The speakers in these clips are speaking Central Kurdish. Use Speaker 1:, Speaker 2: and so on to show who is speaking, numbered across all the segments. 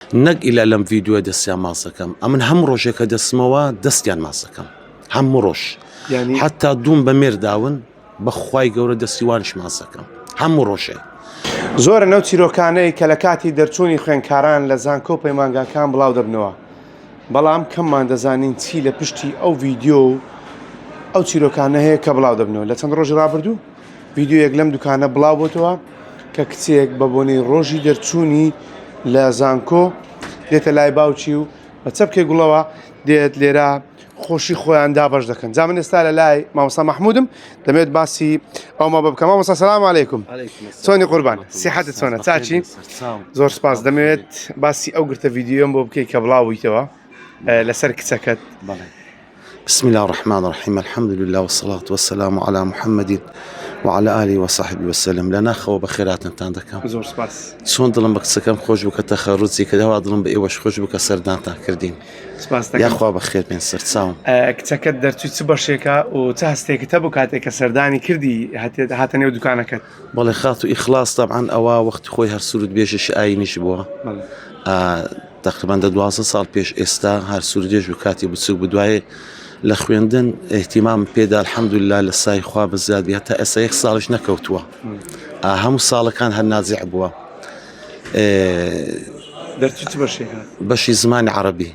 Speaker 1: نەک ئیلا لەم ڤیدیۆیە دەستیان ماچ دەکەم ئەمن هەموو ڕۆژێک کە دەچمەوە دەستیان ماچ دەکەم هەموو ڕۆژ یعنی حتا دووم بە مێر داون بەخوای گەورە دەستی وانش ماچ دەکەم هەموو ڕۆژێ زۆرن ئەو
Speaker 2: چیرۆکانەی کە لە کاتی دەرچوونی خوێندکاران لە زانکۆ و پەیمانگاکان بڵاو دەبنەوە بەڵام کەممان دەزانین چی لە پشتی ئەو ڤیدیۆ و ئەو چیرۆکانە هەیە کە بڵاو دەبنەوە لە چەند ڕۆژی ڕابردوو ڤیدیۆیەک لەم دوکانە بڵاو بۆتەوە کە کچێک بە بۆنەی ڕۆژی دەرچوونی لە زانکۆ دێتە لای باوکی و بە چەپکێ گوڵەوە دێت لێرە خۆشی خۆیان دابش دەکەن جا من ئێستا لە لای مامۆسا مححمودم دەمێت باسی ئەومە بە بکەم مامۆسا سلام عیکم چۆنی قوربان سیحەت چۆنە چاچی زۆر سپاس دەمەوێت باسی ئەو گرتە ڤیددیۆم بۆ بکەیت کە بڵاویتەوە لەسەر کچەکەت بڵێ
Speaker 1: بسم الله الرحمن الرحیم الحمد لله والصلاة والسلام على محمد وعلى آله وصحبه وسلم لە ناخەوە بە خێراتنتان دەکەم زۆر سپاس چۆن
Speaker 2: دڵم بە قسەکەم
Speaker 1: خۆش بکە تەخەڕوزی کە داوا دڵم بە ئێوەش خۆش بکە سەردانتان کردین سپاس دەکەم. یاخوا
Speaker 2: بە خێر بێن
Speaker 1: سەرچاوم ئە، کچەکەت دەرچووی
Speaker 2: چ بەشێکە و چ هەستێکتە بۆ کاتێک کە سەردانی کردی هاتێت هاتە نێو دوکانەکەت بەڵێ خاتو ئیخلاس
Speaker 1: تەبعەن ئەوە وەختی خۆی هەر سرود بێژێکی ئاینیش بووە تقریبان دە دوازە ساڵ پێش ئێستا هەر سوردێژ و کاتی بچوک بدوایێ لە خوێندن احتیمام پێدا الحەمدللا لە سای خوا بە زیادی هەتا ئێستا یەک ساڵش نەکەوتووە هەموو ساڵەکان هەر نازیع بووە
Speaker 2: دەرچی چ بەشێکە بەشی زمانی عربی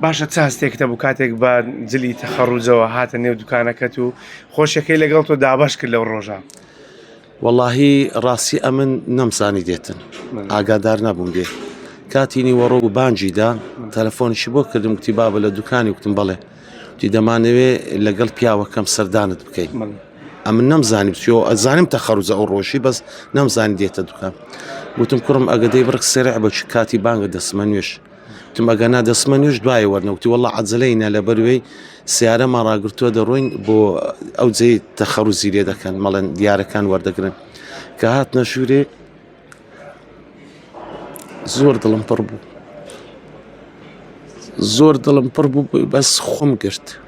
Speaker 1: باشە چ
Speaker 2: هەستێکت هەبوو کاتێک بە جلی تەخەڕوجەوە هاتە نێو دوکانەکەت و خۆشیەکەی لەگەڵ تۆ دابش کرد لەو ڕۆژە واللهی
Speaker 1: ڕاستی ئەمن نەمزانی دێتن ئاگادار نەبووم دێت کاتی نیوەڕۆ و بانجیدا تەلەفۆنیشی بۆ کردم گوتی بابە لە دوکانی وتم بڵێ تی دەمانەوێ لەگەڵ پیاوەکەم سەردانت بکەین ئەمن نەمزانی بچیۆ ئەزانم تەخەرزە ئەو ڕۆژی بەس نەمزانی دێتە دوکان وتم کوڕم ئەگەدەی بڕک سرع بە چ کاتی بانگە دەسمە نوێش وتم ئەگەنا دەسمە نوێژ دوای وەرنە وتی وەڵا عەجلەینە لەبەروێی سیارەمان ڕاگرتووە دەڕۆین بۆ ئەو جێ تەخەڕوزی لێ دەکەن مەڵێن دیارەکان وەردەگرن کە هات نەشورێ زۆر دڵم پڕ بوو زۆر دڵم پڕ بوو بەس خۆم گرت.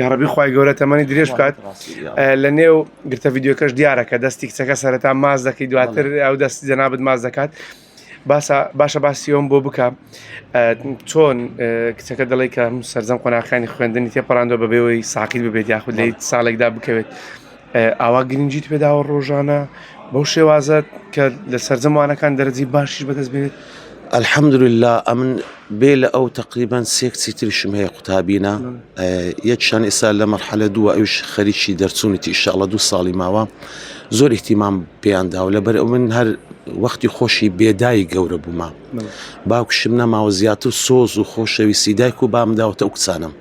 Speaker 1: یاڕەبی خوای
Speaker 2: گەورە تەمەنی درێژ بکات لە نێو گرتە یددیوکەش دیارە کە دەستی کچەکە سەرەتا ماز دەکەی دواتر ئەو دەستی جەنابەت ماز دەکات باسە باشە باسیۆم بۆ بکە چۆن کچەکە دەڵی کە سەررجەم قۆناخانی خوێندنی تێپەڕاندۆ بەبێەوەی ساقیل ببێت یاخود لی ساڵێکدا بکەوێت ئاوا گرنگیت پێداوە ڕۆژانە بەو شێوازت کە لە سەررجەم وانەکان دەرەجی باشیش بەدەست بێت ئەلحەمدللا
Speaker 1: ئەمن بێ لە ئەو تقریبان سێکسی تریشم هەیە قوتابینە یەکشان ئێستا لە مەرحەلە دووە ئەوش خەریکی دەرچوونیتی ئیشاڵە دوو ساڵی ماوە زۆر احتیمام پێیاندا و لەبەر ئەو من هەر وەختی خۆشی بێدای گەورە بوومە باوکشم نەماوە زیاتر سۆز و خۆشەویستی دایک و بامداوەتە ئەو کچانم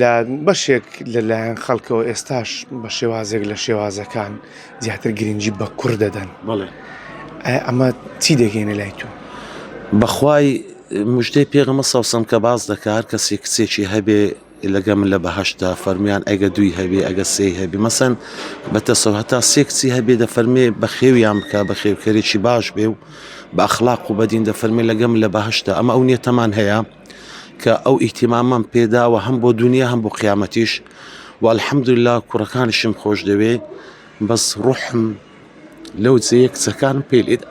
Speaker 2: لە بەشێک لە لایەن خەڵکەوە ئێستاش بە شێوازێک لە شێوازەکان زیاتر گرنگی بە کوڕ دەدەن بڵێ
Speaker 1: ئەمە
Speaker 2: چی دەگەینە لای تۆ بەخوای
Speaker 1: مژدەی پێغمە سەوسم کە باز دەکار کەسی کچێکی هەبێ لەگە من لە بەهشتا فەرمیان ئەگە دوی هەبێ ئەگە سێی هەبی مەسەن بە تەسەوە هەتا سێ کچی هەبێ دە فەرمێ بە خێویان بکە بە خێوکەرێکی باش بێ و بە ئەخلاق و بەدین دە فەرمی لەگەم لە بەهشتا ئەمە ئەو نیەتەمان هەیە کە ئەو ئیهتیمامەم پێداوە هەم بۆ دونیا هەم بۆ قیامەتیش و الحمدللە کوڕەکانیشم خۆش دەوێ بەس ڕوحم لەو جێیە کچەکانم پێ لێدا